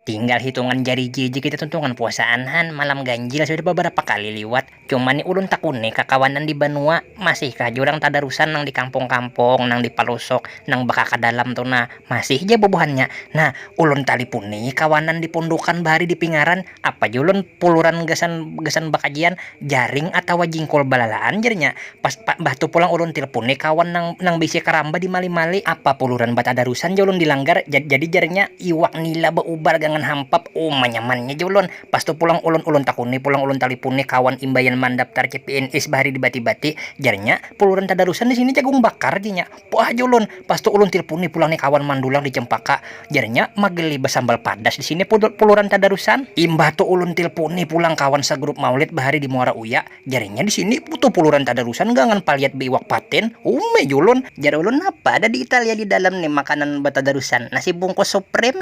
Tinggal hitungan jari ja ja kita tuntungan puasaan han, malam ganjil sudah babarapa kali liwat. Cuma ni ulun takuni kakawanan di banua, masihkah ja urang tadarusan nang di kampung-kampung, nang di palusuk, nang bakaka dalam tu nah, masih ja bubuhannya. Nah, ulun talipuni kawanan di pundukan bahari di pingaran. Apa jua ulun puluran gasan gasan bakajian jaring atawa jingkul balalaan jar nya pas mbah tu pulang ulun tilpuni kawan nang nang baisi karamba di mali mali apa puluran batadarusan ja ulun di langgar jadi jar nya iwak nila baubar gangan hampap uma nyaman nya ja ulun pas tu pulang ulun ulun takuni pulang ulun talipuni kawan imbaian mandaptar cpns bahari di bati bati jar nya puluran tadarusan di sini jagung bakar jar nya. Puah aja ulun. Pas tu ulun tilpuni pulang ni kawan mandulang di Cempaka. Jarnya mageli basambal padas di sini puluran tadarusan. Imbah tu ulun tilpuni pulang kawan sagrup maulid bahari di Muara Uya. Jarnya di sini putu puluran tadarusan gangan paliat beiwak patin. Umai ja ulun. Jar ulun napa ada di Italia di dalam ni makanan batadarusan. Nasi bungkus supreme.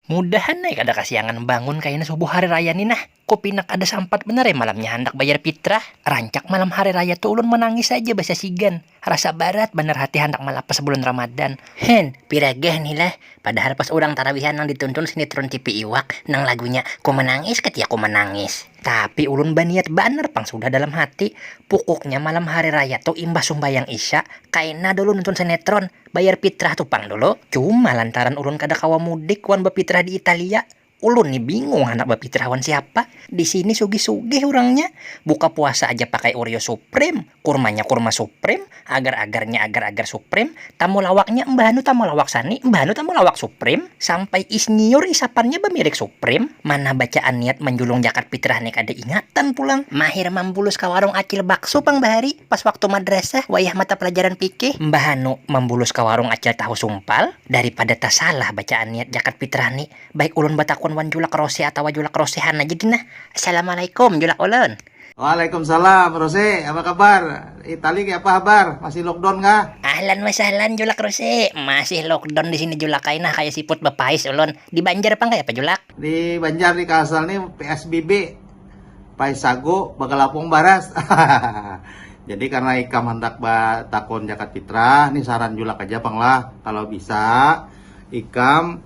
Mudahan ai kada kasiangan bangun kaina subuh hari raya ni nah. Ku pinak kada sampat banar ai malamnya handak bayar pitrah. Rancak malam hari raya tu ulun manangis haja basasigan. Rasa barat banar hati handak malapas bulan Ramadan. Hen, piragah ni lah. Padahal pas urang tarawihan nang dituntun sinitron tipi iwak nang lagunya Ku Manangis Ketika Ku Manangis. Tapi ulun baniat banar pang sudah dalam hati. Pukuknya malam hari raya tu imbah sumbayang isya, kaina dulu nuntun sinetron, bayar pitrah tu pang dulu. Cuma lantaran ulun kada kawa mudik wan bapitrah di Italia, Ulun ni bingung handak bapitrah wan siapa, di sini sugih-sugih urangnya, buka puasa aja pakai oreo supreme, kurmanya kurma supreme, agar-agarnya agar-agar supreme, tamulawaknya mbahanu tamulawak sani, mbahanu tamulawak supreme, sampai isnyiur isapannya bamirek supreme, mana bacaan niat manjulung jakat pitrah ni kada ingatan pulang, mahir mambulus ka warung acil bakso pang bahari pas waktu madrasah wayah mata pelajaran fikih, mbahanu mambulus ka warung acil tahu sumpal, daripada tasalah bacaan niat jakat pitrah ni. Baik ulun batakun wan julak rose atawa julak rosehan aja gin nah. Assalamualaikum julak ulun. Waalaikumsalam rose apa kabar? Itali kayapa habar? Masih lockdown kah? Ahlan wa sahlan julak rose, masih lockdown disini julak ai nah kaya siput bapais ulun. Di banjar pang kayapa julak? Di banjar di kalsel ni psbb, pais sagu bagalapung baras. Jadi karena ikam handak batakun jakat fitrah ni saran julak aja pang lah, kalo bisa ikam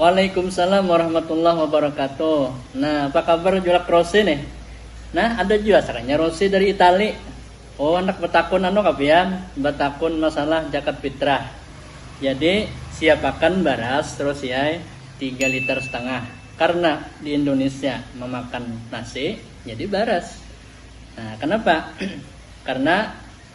Waalaikumsalam warahmatullahi wabarakatuh nah apa kabar julak Rose nih nah ada jua serannya Rose dari Itali oh anak betakun anu ka pian betakun masalah jakat fitrah jadi siapakan baras Rose ai tiga liter setengah karena di Indonesia memakan nasi jadi baras nah kenapa karena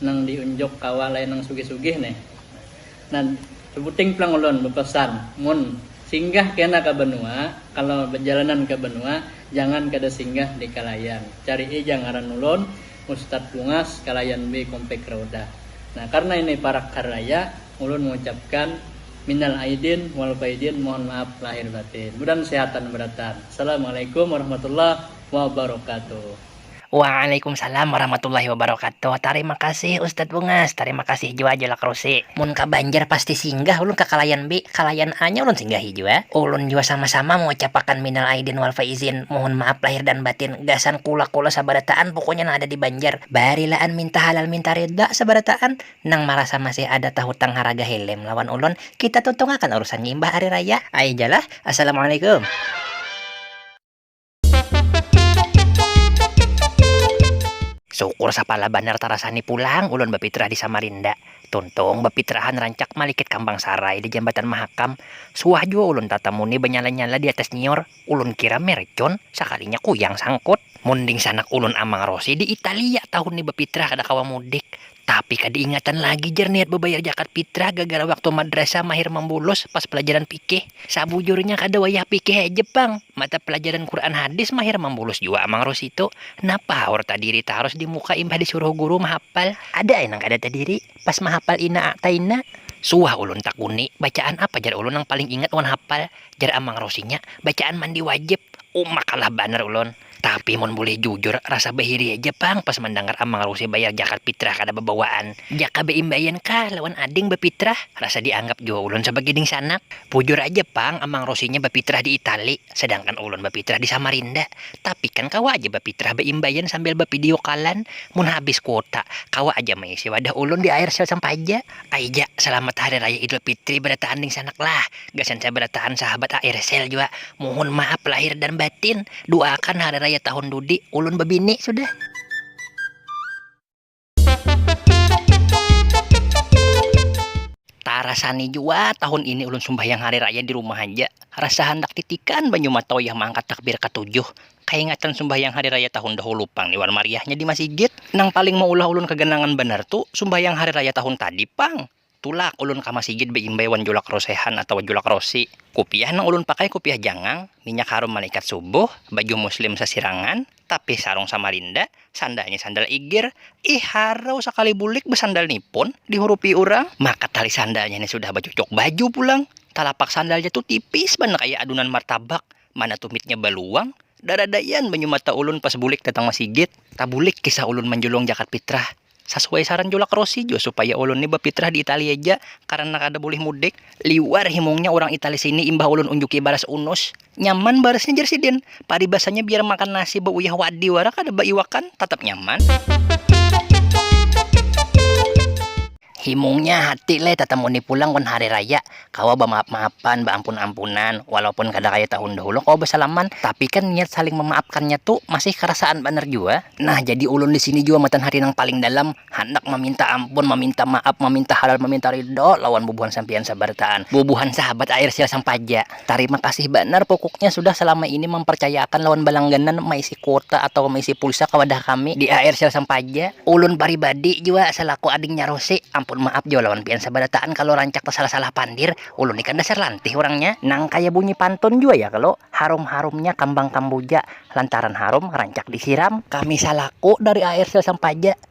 nang di unjuk kawa lain nang sugih sugih ne nah sebuting pulang ulun bepesan mun singgah kena ke benua kalo bejalanan ke benua jangan kada singgah di kalayan carii ja ngaran ulun ustad bungas kalayan b komplek raudah nah karna ini parak hari raya ulun mengucapkan minal aidin wal faidin mohon maaf lahir batin mudan sehatan beratan assalamualaikum warahmatullahi wabarakatuh. Waalaikumsalam warahmatullahi wabarakatuh tarima kasih ustaz bungas tarima kasih jua julak rusi. Mun ka banjar pasti singgah ulun ka kalayan B kalayan A nya ulun singgahi jua ulun jua sama sama mengucapakan minal aidin wal faizin mohon maaf lahir dan batin gasan kula kula sabarataan pokoknya nang ada di banjar barilaan minta halal minta ridha sabarataan nang marasa masih ada tahutang haraga helm lawan ulun kita tuntungakan urusannya imbah ari raya ai ja lah assalamualaikum. Syukur sapala banar tarasani pulang ulun bapitrah di Samarinda. Tuntung bapitrahan rancak malikit kambang sarai di Jambatan Mahakam. Suah jua ulun tatamu ni banyala-nyala di atas nyiur. Ulun kira mercon, sakalinya kuyang sangkut. Mun dingsanak ulun Amang Rosi di Italia tahun ni bapitrah kada kawa mudik. Tapi kada ingatan lagi jar niat babayar jakat pitrah gagara waktu madrasah mahir mambulos pas palajaran pikih. Sabujurnya kada wayah pikih haja pang, mata palajaran Quran hadis mahir mambulos jua Amang Rosito. Napa haur tadiri tarus di muka imbah disuruh guru mahapal. Ada ai nang kada tadiri pas mahapal ina a'taina. Suah ulun takuni, bacaan apa jar ulun nang paling ingat wan hapal. Jar Amang Rosinya, bacaan mandi wajib. Uma kalah banar ulun. Tapi mun bulih jujur, rasa bahiri haja pang pas mandangar Amang Rusi bayar jakat pitrah kada babawaan. Jaka baimbaian kah lawan ading bapitrah, rasa dianggap jua ulun sabagai dingsanak. Bujur haja pang Amang Rusinya bapitrah di Itali, sadangkan ulun bapitrah di Samarinda. Tapi kan kawa haja bapitrah baimbaian sambil bapidiukalan. Mun habis kuota, kawa haja maisi wadah ulun di air sel sampaja. Aija, salamat hari raya Idul Fitri barataan dingsanak lah. Gasan sabara tahan sahabat ARSL jua muhun maaf lahir dan batin, duaakan hari raya tahun dudi ulun babini sudah. Tarasani jua tahun ini ulun sumbahyang hari raya di rumah haja, rasa handak titikan banyu matoyah maangkat takbir katujuh, kaingatan sumbahyang hari raya tahun dahulu pang ni wan mariahnya di masigit, nang paling maulah ulun kaganangan banar tu sumbahyang hari raya tahun tadi pang. Tulak ulun ka masigit baimbai wan julak rosehan atawa julak rosi. Kupiah nang ulun pakai kupiah jangang, minyak harum malaikat subuh, baju muslim sasirangan, tapih sarung samarinda, sandalnya sandal igir. Ih harau sakali bulik basandal ni pun dihurupi urang. Maka tali sandalnya ni sudah bacucuk baju pulang. Talapak sandalnya tu tipis banar kaya adunan martabak, mana tumitnya baluang. Daradaian banyu mata ulun pas bulik datang masigit. Tabulik kisah ulun manjulung jakat pitrah. Sasuai saran julak Rossi jua supaya ulun ni bapitrah di Italia ja karana kada bulih mudik. Liwar himungnya urang Itali sini imbah ulun unjuki baras unus. Nyaman barasnya jar sidin. Paribasanya biar makan nasi bauyah wadi wara kada baiwakan, tatap nyaman. Himungnya hati leh tatamuni pulang wan hari raya. kawa bamaaf-maafan, baampun-ampunan, walaupun kada kaya tahun dahulu kawa basalaman, tapi kan niat saling mamaafkannya tu masih karasaan banar jua. Nah, jadi ulun di sini jua matan hati nang paling dalam handak maminta ampun, maminta maaf, maminta halal, maminta ridho lawan bubuhan sampiyan sabarataan, bubuhan sahabat Airsial Sampaja. Tarima kasih banar pukuknya sudah salama ini mamparcayaakan lawan balangganan maisi. kuota atawa meisi pulsa ka wadah kami di AR Sel Sampaja. Ulun paribadi jua salaku adingnya Rose, ampun maaf jua lawan pian sabarataan kalo rancak tasalah-salah pandir, ulun ni kan dasar lantih urangnya. Nang kaya bunyi pantun jua ya kalo, harum-harumnya kambang kambuja, lantaran harum rancak disiram. Kami salaku dari AR Sel Sampaja.